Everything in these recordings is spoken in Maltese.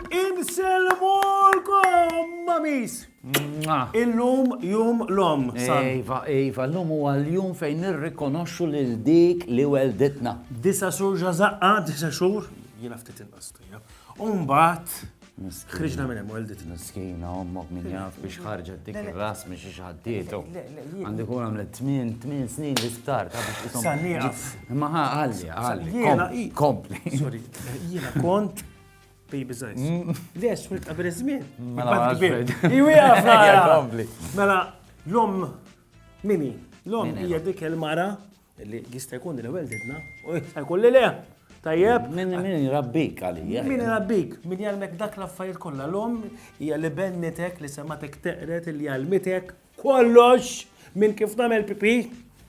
Inselmulkom, mamis! Illum jum l-om. Ejva, ejva, l-lum u għal-jum fejn nirrikonoxxu lil dik li welditna. Disa xhur ġazaqqa, disa xhur, jiena ftit inqas. Umbat, Ħriġna minn hemm weldit. Miskina ommok minn jaf biex ħarġet dik ir-ras minn xi ħaddietu. Għandi kun għamlet tmien tmien snin li sptar ta' biex isom. Sannieqaf. Ma ħalli, ħalli. Jiena kompli. Sorry, jiena kont baby size. Mm. Le, xwilt qabel iż-żmien. Mela kbir. Iwieqaf nara. Mela, l-om mini, l-om hija dik il-mara Li jista' jkun li l-ewwel didna u jista' jkun li le. Tajjeb? Min min rabbik għalija. Min rabbik, min jgħalmek dak l-affarijiet kollha l-om hija li bennitek li sematek teqret li jgħalmitek kollox minn kif nagħmel pipi.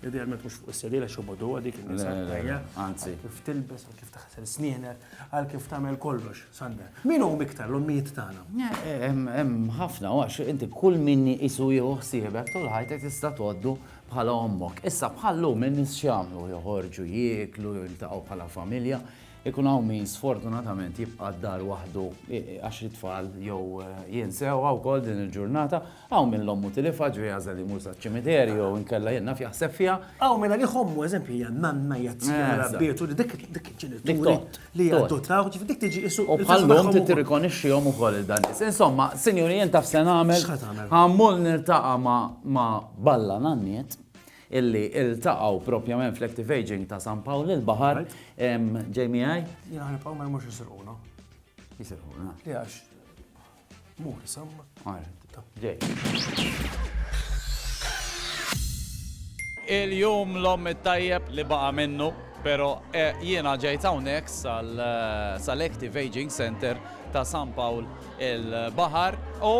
Idealment mhux fuq is-sedila xobodu dik il-nisa tajja. Anzi. Kif tilbes, kif taħsel snienek, għal kif tagħmel kollox, Sander. Min hu miktar l-ommijiet tagħna? Hemm ħafna għax inti kull min isu jieħu ħsiebek tul ħajtek tista' tgħoddu Bħala ommok. Issa bħal llum in-nies x'jagħmlu? Joħorġu, jieklu, jiltaqgħu bħala familja. Ikun hawn min sfortunatament jibqa' d-dar waħdu għax it-tfal jew jinsewha wkoll din il-ġurnata. Hawn min l-ommu tilifha, ġifieri jagħżel jmur saċ-ċimiterju jew inkella jien naf jaħseb fiha. Hawn min għalih ommu eżempju hija n-nanna, hija t-tija, rabbitu, dik il-ġenitur. Dik tgħodd. li jgħaddu trawh, ġifi dik tiġi isu. U bħallum ti tirrikonixxihom ukoll il dan Insomma, sinjuri jien taf se nagħmel. Ħammol nirtaqa' ma' Balla Nanniet illi iltaqgħu propjament fl-Active Aging ta' San Pawl il-Baħar ġej miegħi. Jien ħanibqgħu ma jmux isirquna. Jisirquna. Jax. Mur, samma. Il-jum l-om it-tajjeb li baqa minnu, pero eh, jiena ġejt hawnhekk sal-Active eh, Aging Center ta' San Pawl il-Bahar u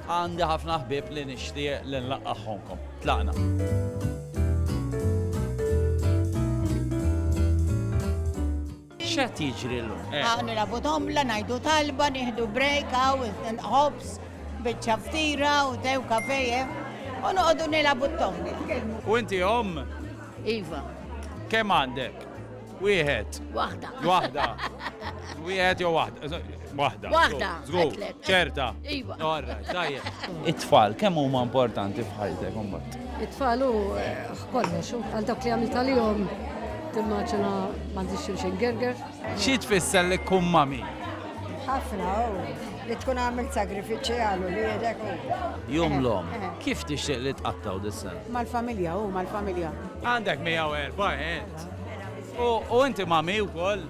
għandi ħafna ħbib li nixtieq li nlaqqaħħonkom. Tlaqna. X'qed jiġri llum? Hawn nilagħbu domla, ngħidu talba, nieħdu break hawn ħobż, biċċa ftira u tew kafe u noqogħdu nilagħbu t-tomli. U inti omm? Iva. Kemm għandek? Wieħed. Waħda. Waħda. Wieħed jew waħda. Waħda. Waħda. Żgur. Ċerta. Iva. Orra, tajjeb. It-tfal kemm huma importanti f'ħajtek imbagħad? It-tfal hu eh, kollox, għal dak li għamil tal-jom timmaġina m'għandix xulxin gerger. Xi tfisser li kum mami? Ħafna, oh li tkun għamil sagrifiċi għalu li jedek. Jum l-om, eh, eh. kif tixtieq li tqattaw dis-sen? Mal-familja, u mal-familja. Għandek 104, ent. U inti mami u koll.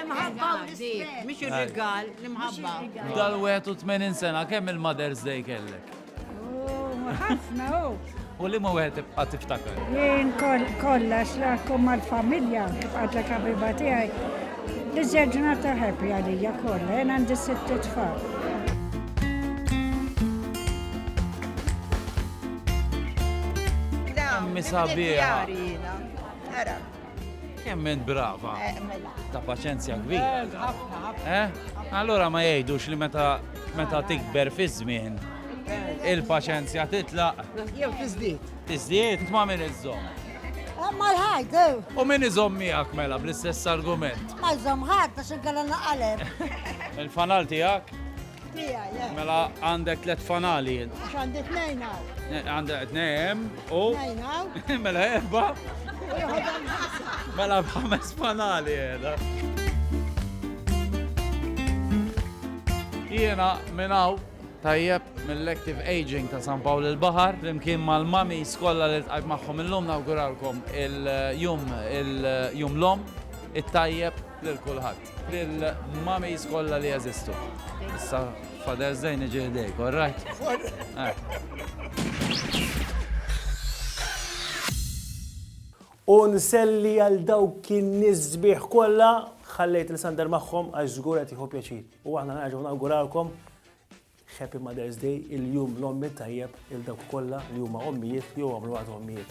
Imħabba u rispett. Mhix ir-rigal, l-imħabba. Dal-81 sena kemm il-Mother's Day kellek? Ħafna u. U li ma wieħed tibqa' tiftakar? Jien kollha xlakum mal-familja tibqa' kabiba tiegħi. Li ġurnata ħebbi għalija kollha, jien għandi sitt tfal. mi sabiħa. Jemmen brava. Eh, mela. Ta' paċenzja kbira. Eh, eh? Allora ma jgħidux li meta meta tikber fi żmien il-paċenzja titlaq. Jew tiżdied. Tiżdied ma' min iżżomm. Ma l-ħajt, U min iżomm miegħek mela bl-istess argument. Ma jżomm ħadd għax inkella naqaleb. Il-fanal tiegħek? Mela għandek tlet fanali. Għax għandi tnejn għaw. Eh, għandek tnejn u. Tnejn għaw. Mela erba. Mela bħames fanali għeda. Jena minnaw tajjeb mill-Active Aging ta' San Pawl il-Bahar, flimkien mal-mami skolla li tqajt magħhom illum nawguralkom il-jum il-jum l-om, it-tajjeb lil kulħadd. Lill-mummies kollha li jeżistu. Issa Father's Day niġi ħdejk, all right? U nselli għal dawk kien nisbiħ kollha ħallejt nisander magħhom għax żgur qed jieħu pjaċir. U aħna nerġgħu nawguralkom Happy Mother's Day il-jum l-ommi tajjeb il dawk kollha li huma ommijiet li huma mluwat ommijiet.